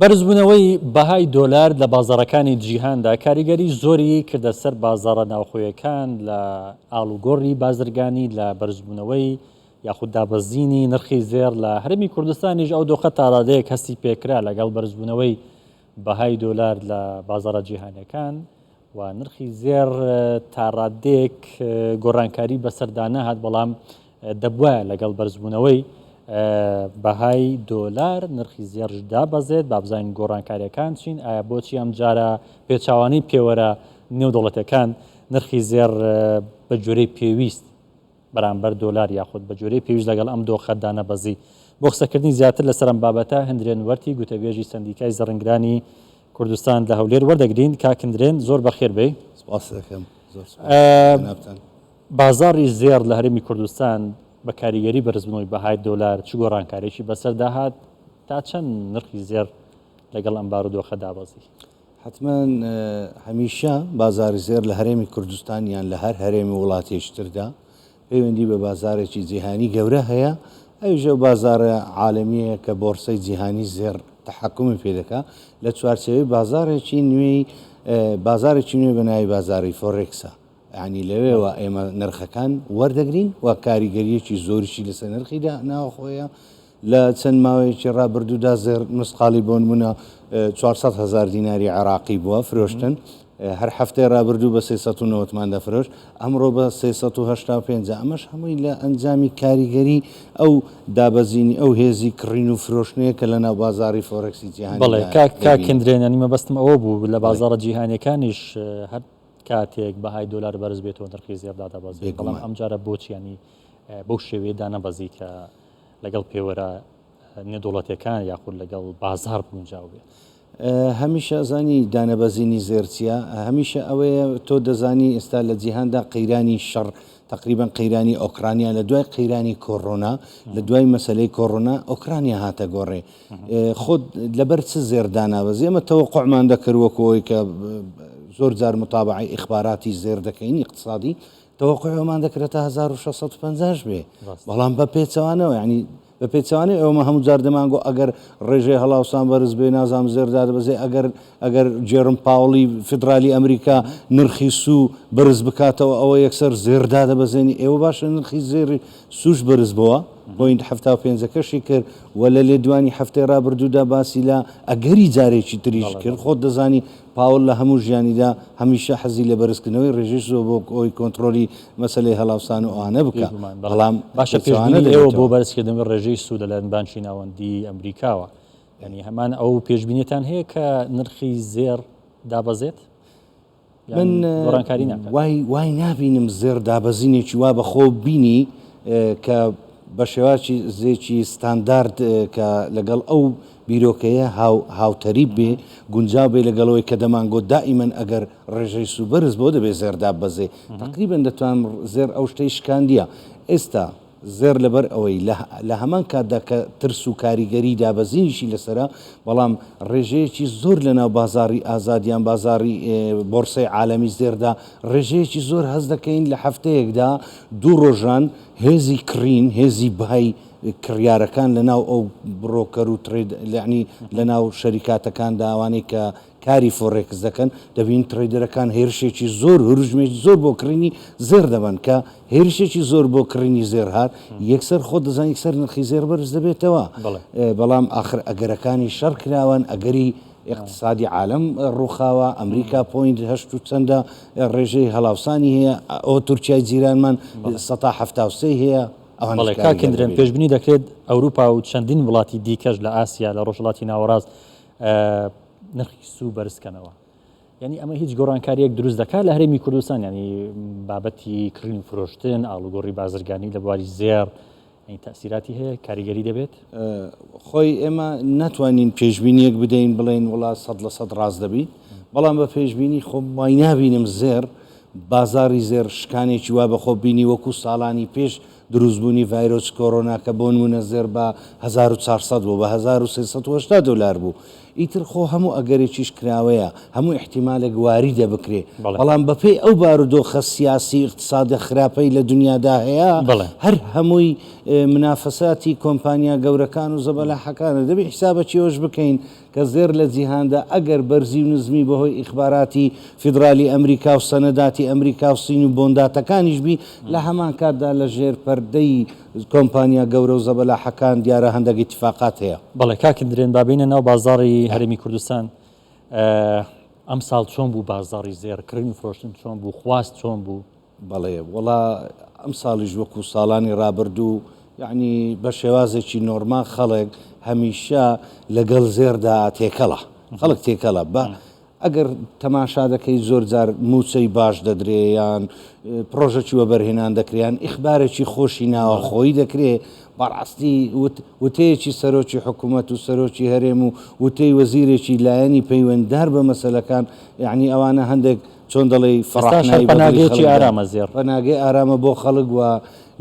بەرزبوونەوەی بەهای دۆلار لە بازاڕەکانی جیهاندا کاریگەری زۆری کردە سەر بازاڕە ناوخۆیەکان لە ئاڵوگۆڕی بازرگانی لە بەرزبوونەوەی یاخود دابەزینی نرخی زێڕ لە هەرێمی کوردستانیش ئەو دۆخە تاڕادەیەک هەستی پێکرا لەگەڵ بەرزبوونەوەی بەهای دۆلار لە بازاڕە جیهانەکان و نرخی زێڕ تاڕادەیەک گۆڕانکاری بەسەردانەهات بەڵام دەبوایە لەگەڵ بەرزبوونەوەی بەهای دۆلار نرخی زێڕش دابەزێت، با بزانین گۆڕانکارییەکان چین، ئایا بۆچی ئەمجارە پێچەوانەی پێوەرە نێودەوڵەتییەکان نرخی زێڕ بە گوێرەی پێویست بەرامبەر دۆلار یاخود بە گوێرەی پێویست لەگەڵ ئەم دۆخە دانەبەزی؟ بۆ قسەکردنی زیاتر لەسەر ئەم بابەتە هندرێن وەرتی گوتەبێژی سەندیکای زڕنگدانی کوردستان لە هەولێر وەردەگرین. کاک هندرێن زۆر بەخێر بێی. سپاست دەکەم زۆر سپاس جەنابتان. بازاڕی زێڕ لە هەرێمی کوردستان بە کاریگەری بەرزبوونەوەی بەهای دۆلار چ گۆڕانکارییەکی بەسەردا هات؟ تا چەند نرخی زێڕ لەگەڵ ئەم بارودۆخە دابەزی؟ حتمەن هەمیشە بازاری زێر لە هەرێمی کوردستان یان لە هەر هەرێمی وڵاتێشتردا پەیوەندی بە بازارێکی جیهانی گەورە هەیە ئەوژە بازارە عاالمیەیە کە بۆرسەی جیهانی زێر تحکمی پێ دەکا لە چوارچەوەی بازارێکی نوێی بازارێکی نوێ بەناوی بازاری فۆرێکسە یانی لەوێوە ئێمە نرخەکان وەردەگرین و کاریگەریەکی زۆریی لەسەر نرخیدا ناوخۆیە لە چەند ماوەیەکی ڕابردوودا زێر نوسقالی بۆن بوونە 400 هزار دیناری عراقی بووە فرۆشتن هەر هەفتەی ڕابردوو بە 1990مان دەفرۆش ئەمڕۆ بە 1950 ئەمەش هەمووی لە ئەنجامی کاریگەری ئەو دابەزینی ئەو هێزی کڕین و فرۆشتنەیە کە لە ناو بازاری فۆرەکسی جیهان بڵێ کاکندرێنانی مەبەستم ئەوە بوو لە بازارە جیهانەکانیش هەر کاتێک بەهای دۆلار بەرز بێتەوە نرخی زێڕ دادەبەزێت بەڵام ئەمجارە بۆچیانی بەو شێوەیە دانەبەزی کە لەگەڵ پێوەرە نێدوڵەتەکان یاخود لەگەڵ بازار بونجاو بێت. هەمیشە زانی دانەبەزینی زێرچیە هەمیشە ئەوەیە تۆ دەزانی ئێستا لە جیهاندا قەیرانی شەڕ تەقریبەن قەیرانی ئۆکڕانیا لە دوای قەیرانی کۆڕۆنا لە دوای مەسلەی کۆڕۆنا ئۆکرانیا هاتە گۆڕێ خۆت لەبەر چ زێر دانابەز ئێمە تەوە قۆمان دەکردوەکەەوەی کە زۆر جار متابعی ئیخباراتی زێر دەکەین اقتصادی تەوەقعمان دەکرێت تا 1650 بێ بەڵام بە پێچەوانەوە ینی بە پێچەوانەی ئەومە هەموو جار دەمانگۆ ئەگەر ڕێژەی هەڵاوسان بەرز بێ نازام زێر دادەبەزێ ئەگەر ئەگەر جێرم پاوڵی فیدرالی ئەمریکا نرخی سوو بەرز بکاتەوە ئەوە یەکسەر زێر دادەبەزێنی ئێوە باشە نرخی زێری سوش بەرز بووە پوینت هەفتا و پێنجەکەشی کرد و لە لێدوانی هەفتەی ڕابردوودا باسی لە ئەگەری جارێکی تریش کرد خۆت دەزانی پاوڵ لە هەموو ژیانیدا هەمیشە حەزی لە بەرزکردنەوەی ڕێژەی سۆ بۆ ئەوەی کۆنتڕۆلی مەسەلەی هەڵاوسان و ئەوانە بکا، بەڵام باشە پێشبینی ئێوە بۆ بەرزکردنەوەی ڕێژەی سوود لە لایەن بانکی ناوەندیی ئەمریکاوە، یانی هەمان ئەو پێشبینیەتان هەیە کە نرخی زێڕ دابەزێت؟ من گۆڕانکاری ناکات؟ وای وای نابینم زێڕ دابەزینێکی وا بە خۆو بینی کە بە شێوازی زێکی ستاندارد کە لەگەڵ ئەو بیرۆکەیە هاو هاو تەریب بێ گونجاو بێ لەگەڵ ئەوەی کە دەمان گۆت دائیمەن ئەگەر ڕێژەی سوو بەرز بۆ دەبێ زێڕ داببەزێ تەقریبەن دەتوان زێڕ ئەو شتەی شکاندیە ئێستا زێڕ لەبەر ئەوەی لە لە هەمان کاتدا کە ترس و کاریگەری دابەزینیشی لەسەرە بەڵام ڕێژەیەکی زۆر لەناو بازاڕی ئازاد یان بازاڕی بۆڕسەی عالەمی زێردا ڕێژەیەکی زۆر هەست دەکەین لە هەفتەیەکدا دوو ڕۆژان هێزی کڕین هێزی بای کڕیارەکان لەناو ئەو بڕۆکەر و تڕەید یەعنی لەناو شەریکاتەکاندا ئەوانەی کە کاری فۆڕێکس دەکەن دەبینین تڕەیدەرەکان هێرشێکی زۆر هروژمێکی زۆر بۆ کڕینی زێڕ دەبەن کە هێرشێکی زۆر بۆ کڕینی زێڕ هات یەکسەر خۆت دەزانی یەکسەر نرخی زێڕ بەرز دەبێتەوە بەڵام ئاخر ئەگەرەکانی شەڕ کراوەن ئەگەری ئیقتسادی عالەم ڕووخاوە ئەمریکا پۆینت هەشت و چەندە ڕێژەی هەڵاوسانی هەیە ئەوە تورکیای جیرانمان سەتا حەفتا و سێی هەیە بەڵێ کاک کندرێن پێشبنی دەکرێت ئەوروپا و چەندین وڵاتی دیکەش لە ئاسیا لە ڕۆژهڵاتی ناوەڕاست نرخی سوو بەرزکەنەوە یعنی ئەمە هیچ گۆڕانکاریەک دروست دەکات لە هەرێمی کوردستان ینی بابەتی کڕین فرۆشتن ئاڵوگۆڕی بازرگانی لە بواری زێر تاسیراتی هەیە کاریگەری دەبێت خۆی ئێمە ناتوانین پێشببینیەک بدەین بڵێن وڵات سە لە سەد ڕاست دەبی بەڵام بە پێشببینی خۆم وای نبینم زێر بازاڕی زێڕ شکانێکی وا بەخۆ بینی وەکو ساڵانی پێش دروستبوونی ڤایرۆسی کۆرۆنا کە بۆ نموونە زێڕ بە هەزار و چوار سەد بوو بە هەزار و سێ سەد و هەشتا دۆلار بوو ئیتر خۆ هەموو ئەگەرێکیش کراوەیە هەموو ئیحتیمالێک واریدە بکرێ بەڵام بەپێی ئەو بارودۆخە سیاسی ئیقتسادە خراپەی لە دنیادا هەیە هەر هەمووی منافەساتی کۆمپانیا گەورەکان و زەبەلاحەکانە دەبێ حیسابەکی ئەوەش بکەین کە زێڕ لە جیهاندا ئەگەر بەرزی و نزمی بە هۆی ئیخباراتی فیدرالی ئەمریکا و سەنەداتی ئەمریکا و سین و بۆنداتەکانیش بی، لە هەمان کاتدا لە ژێر پەردەی کۆمپانیا گەورە و زەبەلاحەکان دیارە هەندەک ئیتیفاقات هەیە. بەڵێ کاک درێن با بێینە ناو بازاڕی هەرێمی کوردستان ئەمساڵ چۆن بوو بازاڕی زێڕ کڕین و فرۆشتن چۆن بوو خواست چۆن بوو؟ بەڵێ وەڵا ئەمساڵیش وەکو ساڵانی ڕابردوو یعنی بە شێوازێکی نۆرمال خەڵک هەمیشە لەگەڵ زێردا تێکەڵە خەڵک تێکەڵە بە ئەگەر تەماشا دەکەی زۆر جار موچەی باش دەدرێیان پرۆژەکی وەبەرهێنان دەکریان ئیخبارێکی خۆشی ناوە خۆی دەکرێ بەڕاستی وتەیەکی سەرۆکی حکوومەت و سەرۆکی هەرێم و وتەی وەزیرێکی لایەنی پەیوەنددار بە مەسلەکان یعنی ئەوانە هەندێک چۆن دەڵێی فەڕاح ناوی بە دڵی خەڵک دا، پەناگەی ئارامە بۆ خەڵک و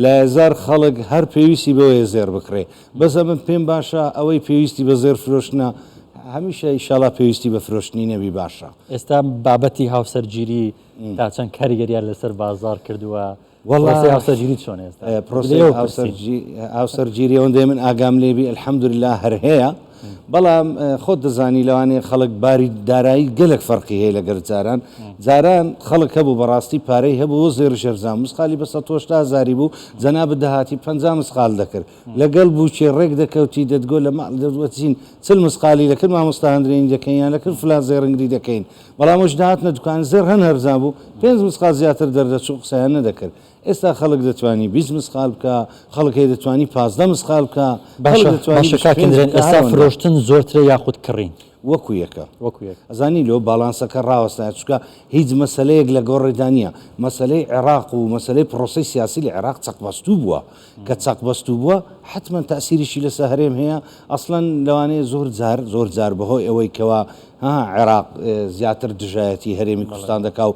لایەزار خەڵک هەر پێویستی بەوەیە زێڕ بکڕێ، بەس ئەمن پێم باشە ئەوەی پێویستی بە زێڕ فرۆشتنە هەمیشە ئیشاڵا پێویستی بە فرۆشتنی نەبی باشە. ئێستا بابەتی هاوسەرگیری تا چەند کاریگەریان لەسەر بازاڕ کردووە؟ پرۆسەی هاوسەرگیریت چۆنە ئێستا؟ پرۆسەی هاوسەرگیری ئەوەندەی من ئاگام لێ بی الحەمدوللە هەر هەیە، بەڵام خۆت دەزانی لەوانەیە خەڵک باری دارایی گەلەک فەرقی هەیە لەگەل جاران، جاران خەڵک هەبوو بەڕاستی پارەی هەبوو و زێڕی شێرزان مسقالی بە سەد و هەشتا هەزاری بوو، جەنابت دەهاتی پەنجا مسقال دەکرد، لەگەل بووکێ ڕێک دەکەوتی دەتگۆت لە ماڵ دەروەچین چل مسقالی دەکرد مامۆستا هەندرێنی دەکەین یان دەکرد فلان زێڕنگری دەکەین. بەڵام ئەوش دەهاتنە دوکان زێڕ هەن هەرزان بوو پێنج مسقال زیاتر دەردەچوو قسەیان نەدەکرد ئێستا خەڵک دەتوانی بیست مسقال بکا خەڵک هەیە دەتوانی پازدە مسقال بکا خەڵک باشە دەتوانی باشە بیست و کاک پێنج ئەندرێن بکا ئێستا هەرەوەندە فرۆشتن زۆرترە یاخود کڕین وەکو یەکە وەکو یەک؟ ئەزانی لۆ باڵانسەکە ڕاوەستایە چونکە هیچ مەسەلەیەک لەگۆڕێدا نییە مەسەلەی عێڕاق و مەسەلەی پڕۆسەی سیاسی لە عێڕاق چەقبەستوو بووە کە چەقبەستوو بووە حەتمەن تەئسیریشی لەسە هەرێم هەیە ئەسڵەن لەوانەیە زۆر جار زۆر جار بەهۆی ئەوەی کەوا هەها عێراق زیاتر دژایەتی هەرێمی کوردستان دەکا و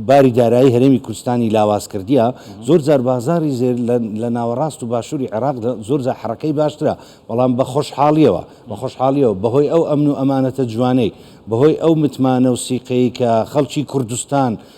باری دارایی هەرێمی کوردستانی لاواز کردیە زۆر جار بازاری زێر لە ناوەڕاست و باشووری عێراق زۆر جار حڕەکەی باشترە بەڵام بە خۆشحاڵیەوە بە خۆشحاڵیەوە بەهۆی ئەو ئەمن و ئەمانەتە جوانەی بەهۆی ئەو متمانە و سیقەی کە خەڵکی کوردستان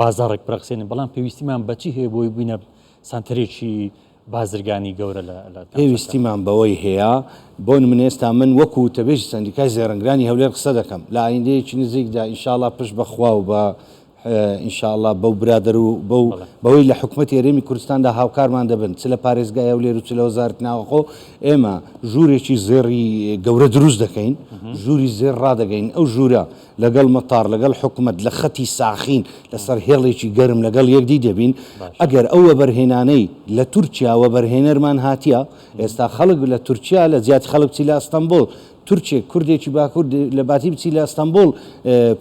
بازاڕێک برەخسێنین، بەڵام پێویستیمان بە چی هەیە بۆی بووینە سانتەرێکی بازرگانی گەورە لە لە پێویستیمان بەوەی هەیە بۆ نمونە ئێستا من وەکو وتەبێژی سەندیکای زێڕنگرانی هەولێر قسە دەکەم لە ئایندەیەکی نزیکدا ئینشاڵا پشت بە خوا و بە ئینشاءله بەو برادر و بەو بەوەی لە حکوومەت هەرێمی کوردستاندا هاوکارمان دەبن چ لە پارێزگای هەولێر و چ لە وەزارت ناوەخۆ ئێمە ژوورێکی زێڕی گەورە دروست دەکەین ژووری زێر ڕدەگەین ئەو ژوورە لەگەڵ مەتاڕ، لەگەڵ حکومەت لە خەتی ساخین لەسەر هێڵێکی گەرم لەگەڵ یەکدی دەبین. ئەگەر ئەو وەبەرهێنانەی لە تورکیا وەبەرهێنەرمان هاتیە، ئێستا خەڵک لە تورکیا لە جیاتی خەڵک بچی لە ئەستەنبوڵ، تورکێک کوردێکی باکور لە باتی بچی لە ئەستەنبوڵ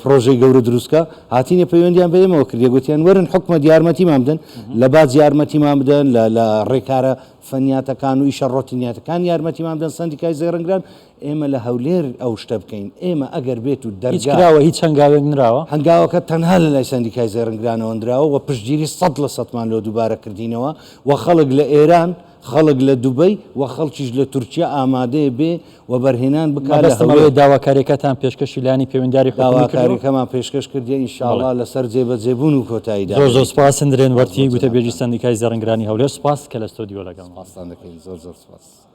پڕۆژەی گەورە دروست بکا، هاتینە پەیوەندیان بە ئێمەوە کردیە گوتیان وەرن حکومەت یارمەتیمان بدەن، لە باج یارمەتیمان بدەن، لە رێکارە فنیاتەکان و ئیشە رۆتینیاتەکان یارمەتیمان بدەن، سەندیکای زێڕنگدان، ئێمە لە هەولێر ئەو شتە بکەین، ئێمە ئەگەر بێت و هیچ دەرگا. کراوە هیچ هەنگاوێک نراوە؟ هەنگاوەکە تەنها لە لای سەندیکای زێڕنگدانەوە نراوە و پشتگیری سەد لە سەدمان لۆ دووبارە کردینەوە و خەڵک لە ئێران، خەڵک لە دوبەی و خەڵکیش لە تورکیا ئامادەیە بێ وەبەرهێنان بکا لە مەبەستم ئەوەیە هەولێر. داواکاریەکەتان پێشکەشی لایەنی پەیوەنداری حکومی کردوە؟ داواکاریەکەمان پێشکەش کردیە ان شاء بەڵێ. اللە لە سەر جێ بەجێ بوون و کۆتایی زۆر زۆر دادەنێین. سوپاس سندرێن سپاس وەرتی بۆ گوتەبێژی جەنابتان. سەندیکای زێڕنگرانی هەولێر سوپاس کە لە ستۆدیۆ لەگەڵمان بوو. سپاستان دەکەین زۆر زۆر سپاس.